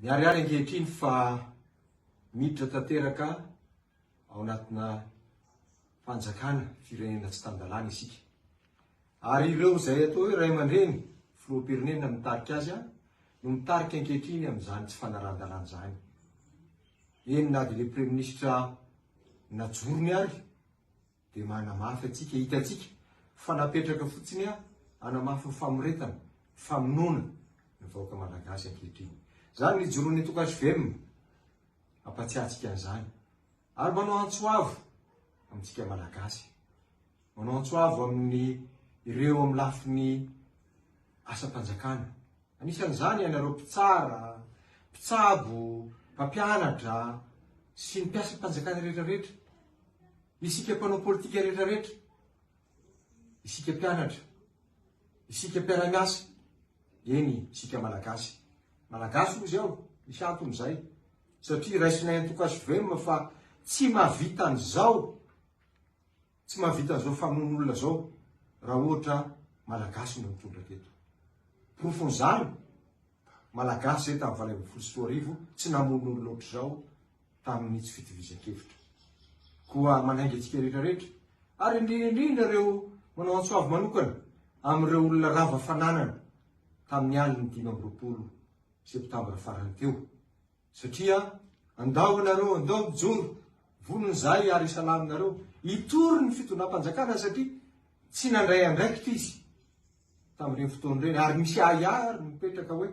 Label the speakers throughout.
Speaker 1: Miharihary ankehitriny fa miditra tanteraka ao anatina fanjakana firenena tsy tan-dalàna isika. Ary ireo izay atao hoe ray aman-dreny, filoham-pirenena mitarika azy, no mitarika ankehitriny amin'izany tsy fanarahan-dalàna izany. Eny na dia ilay praiminisitra najorony ary dia manamafy antsika, hitantsika fa napetraka fotsiny hanamafy ny famoretana, famonoana ny vahoaka malagasy ankehitriny. Izany ny ijoroan'ny Antokasy Velona mampatsiahy antsika an'izany ary manao antso avo amintsika malagasy. Manao antso avo amin'ny ireo amin'ny lafiny asam-panjakana. Anisan'izany ianareo mpitsara, mpitsabo, mpampianatra sy ny mpiasam-panjakana rehetrarehetra, isika mpanao politika rehetrarehetra, isika mpianatra, isika mpiara-miasa, eny isika Malagasy. Malagasy hozy aho, misy antony izay, satria raisinay antoka-svm fa tsy mahavita an'izao. Tsy mahavita zao famono olona zao raha ohatra malagasy no mitondra teto. Porofon zany malagasy zay tam valo ambin'ny folo sy roa arivo tsy namono olona otrzao tamin itsy fitovizankevitra. Koa manainga antsika rehetra rehetra ary indrindra indrindra reo manao antsoavo manokana amin reo olona rava fananana tamin ny alin ny dimy amby roapolo septambra farany teo Satria andao ianareo, andao mijoro, vono ny zay ary isalaminareo. Hitory ny fitondram-panjakana satria tsy nandray andraikitra izy tamin'ireny fotoana ireny ary misy ahiahy ary mipetraka hoe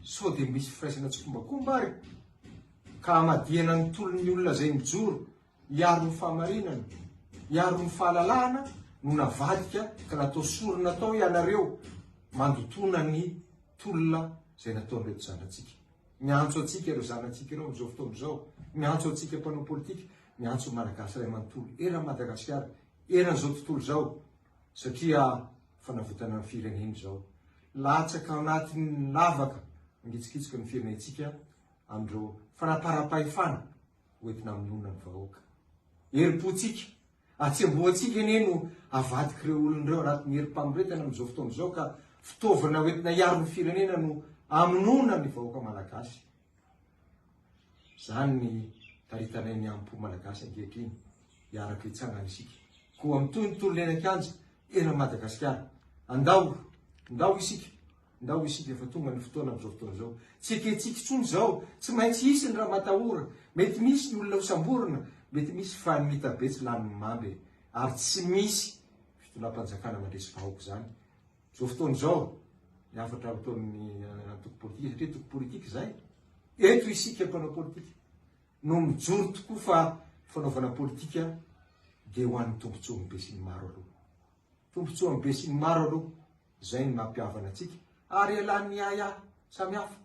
Speaker 1: sao dia misy firaisana tsikombakomba ary ka hamadihana ny tolon'ny olona izay mijoro hiaro ny fahamarinana, hiaro ny fahalalahana no navadika ka natao sorona tao ianareo mandotoana ny tolona izay nataon'ireto zanatsika. Miantso antsika ireo zanatsika ireo amin'izao fotoana izao, miantso antsika mpanao politika, miantso ny Malagasy iray manontolo eran'i Madagasikara, eran'izao tontolo izao satria fanavotana ny firenena izao. Latsaka anatin'ny lavaka mangitsokitsoka ny firenentsika amin'ireo fanaparam-pahefana hoentina hamonoana ny vahoaka. Herim-pontsika Atsembohantsika anie no avadik'ireo olona ireo anatin'ny herim-pamoretana amin'izao fotoana izao ka fitaovana hoentina hiaro ny firenena no amonoana ny vahoaka malagasy. Izany ny taritanay ny ampo malagasy ankehitriny. Hiaraka hitsangana isika. Koa mitohy ny tolona eny an-kianja, eran'i Madagasikara. Andao, ndao isika. Ndao isika fa tonga ny fotoana amin'izao fotoana izao. Tsy ekentsika intsony izao. Tsy maintsy hisy ny ramatahora. Mety misy ny olona hosamborina, mety misy fa ny mitabe tsy lanin'ny mamba e. Ary tsy misy fitondram-panjakana mandresy vahoaka izany. Izao fotoana izao ny hafatra ataon'ny antoko politika satria antoko politika izay. Eto isika mpanao politika no mijoro tokoa fa fanaovana politika dia ho an'ny tombontsoan'ny besinimaro aloha. Tombontsoan'ny besinimaro aloha. Izay no nampihavana antsika, ary ialàn'ny ahiahy samihafa.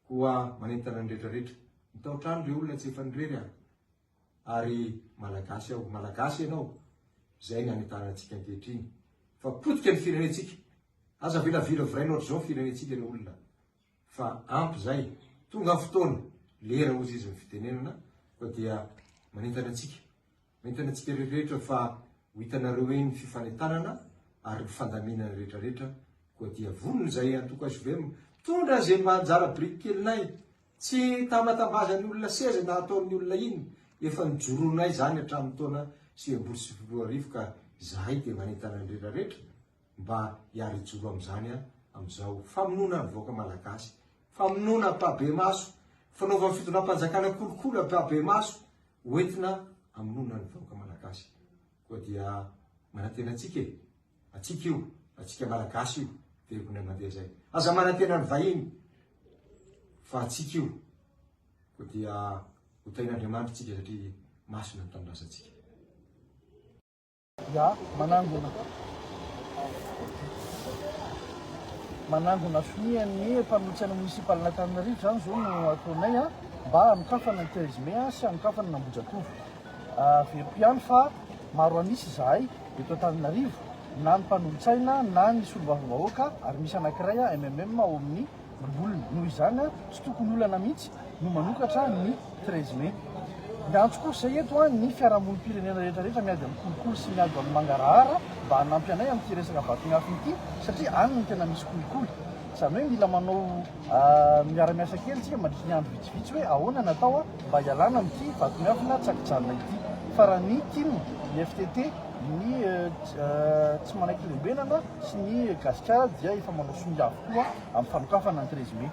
Speaker 1: Koa manentana ny rehetrarehetra, mitaotra any ireo olona tsy efa nirery aho, ary Malagasy aho, Malagasy ianao, izay ny hanentanana antsika ankehitriny, fa potika ny firenentsika, aza avela viraviraina ohatr'izao ny firenentsika ry olona, fa ampy izay, tonga ny fotoana, lera hozy izy ny fitenenana, koa dia manentana antsika. Mety antsika rehetrarehetra fa ho hitanareo eny ny fifanentanana ary ny fandaminana rehetrarehetra koa dia vonona izahay antoko HVM mitondra izay mba anjara biriky kelinay, tsy tambantambazan'ny olona seza na ataon'ny olona iny, efa nijoroanay izany hatramin'ny taona sivy ambin'ny folo sy sivifolo sy roa arivo ka izahay dia manentana ny rehetrarehetra mba hiara hijoro amin'izany amin'izao famonoana ny vahoaka malagasy, famonoana ampahibemaso, fanaovan'ny fitondram-panjakana kolikoly ampahibemaso. ho entina amonoana ny vahoaka malagasy koa dia manantena antsika e! Antsika io, antsika malagasy io dia ho na mandeha izay. Aza manantena ny vahiny fa antsika io koa dia ho tahin'Andriamanitra antsika satria masina ny tanindrazantsika.
Speaker 2: Ya, manangona. Manangona sonia ny mpanohitra ny municipaln'Antananarivo izany izao no ataonay a, mba hanokafana ny treize mai sy hanokafana ny Ambohijatovo. Averiko ihany fa maro an'isa izahay eto Antananarivo, na ny mpanohitsaina na ny solombavambahoaka, ary misy anankiray MMM ao amin'ny. voliny. Noho izany an, tsy tokony olana mihitsy no manokatra ny treize mai. Miantso kosa eto an, ny fiarahamonim-pirenena rehetrarehetra miady amin'ny kolikoly sy miady amin'ny mangarahara mba hanampy anay amin'ity resaka vaton'afo ity satria any no tena misy kolikoly. Izany hoe mila manao miara-miasa kely isika mandritry ny andro vitsivitsy hoe ahoana ny atao mba hialana amin'ity vaton'afona tsy an-kijanona ity. Fa raha ny tim, ny FTT, ny tsy manaiky lembenana, sy ny Gasikara dia efa manao sonia avokoa amin'ny fanokafana ny treize mai.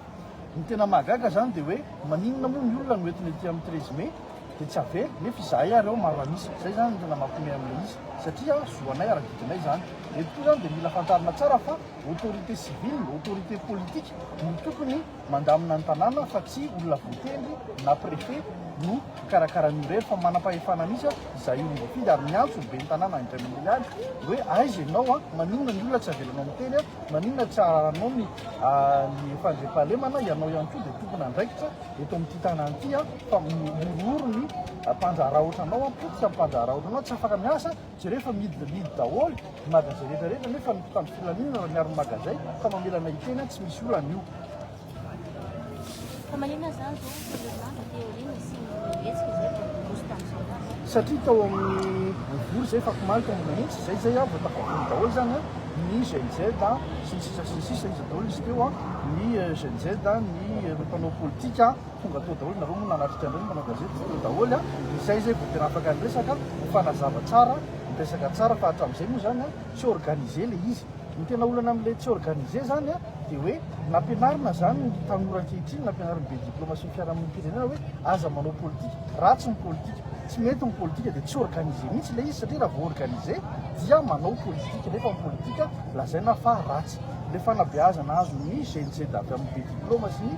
Speaker 2: Ny tena mahagaga izany dia hoe maninona moa ny olona no entina ety amin'ny treize mai dia tsy avela nefa izahay ary ao maro an'isa. Izay izany no tena mampihomehy amin'ilay izy satria zo anay ary didinay izany. Eto koa izany dia mila fantarina tsara fa autorité civile, autorité politique no tokony mandamina ny tanàna fa tsy olona voatendry na préfet no mpikarakara an'io irery fa manam-pahefana mihitsy aho izay olona voafidy ary miantso ny ben'ny tanàna indray mandeha ihany hoe aiza ianao a maninona ny olona tsy avelanao miteny a maninona tsy araranao ny ny fandriampahalemana ianao ihany koa dia tompona andraikitra eto amin'ity tanàna ity a fa mihorohoro ny mpandraharaotra anao a potika mpandraharaotra anao tsy afaka miasa Jereo fa mihidy dia mihidy daholo ny magasin rehetra rehetra nefa ny mpitandro filaminana raha miaro ny magasin fa mamela anay hiteny aho tsy misy olana io. Fa maninona izany izao Fernanda dia aoriana nisian'ny hetsika izay vao niroso tamin'izao ho azy? Satria tao amin'ny boribory izay fakomaly tao ambony mihitsy izay izay vao tafavory daholo izany ny GNZ sy ny sisa sy ny sisa iza daholo izy teo ny GNZ ny mpanao politika Tonga tao daholo nareo moa nanatrika an'ireny mpanao gazety teo daholo a, izay izay vao tena afaka niresaka, nifanazava tsara, niresaka tsara fa hatramin'izay moa izany a tsy organisé ilay izy. Ny tena olana amin'ilay tsy organisé izany a dia hoe nampianarina izany ny tanora ankehitriny, nampianarin'ny be diplaoma sy ny fiarahamonim-pirenena hoe aza manao politika, ratsy ny politika, tsy mety ny politika dia tsy organisé mihitsy ilay izy satria raha vao organisé dia manao politika nefa ny politika lazaina fa ratsy. Ilay fanabeazana azon'ny GNZ avy amin'ny be diplaoma sy ny.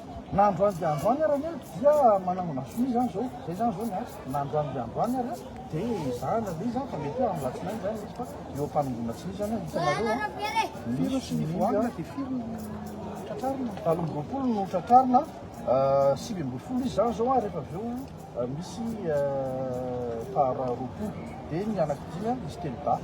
Speaker 2: Na androany dia androany ary anie dia manangona sonia izany izao. Izay izany izao ny ahy. Na androany dia androany ary dia ezahana aloha izany fa mety hoe amin'ny alatsinainy izany misy fa eo am-panongoana sonia izany aho hitanareo a. Firy sonia voanina dia firy no tratrarina? Valo amby roapolo no tratrarina, sivy ambin'ny folo izy izany izao a, rehefa avy eo misy faharoapolo dia ny anaky dimy a, misy telodahy.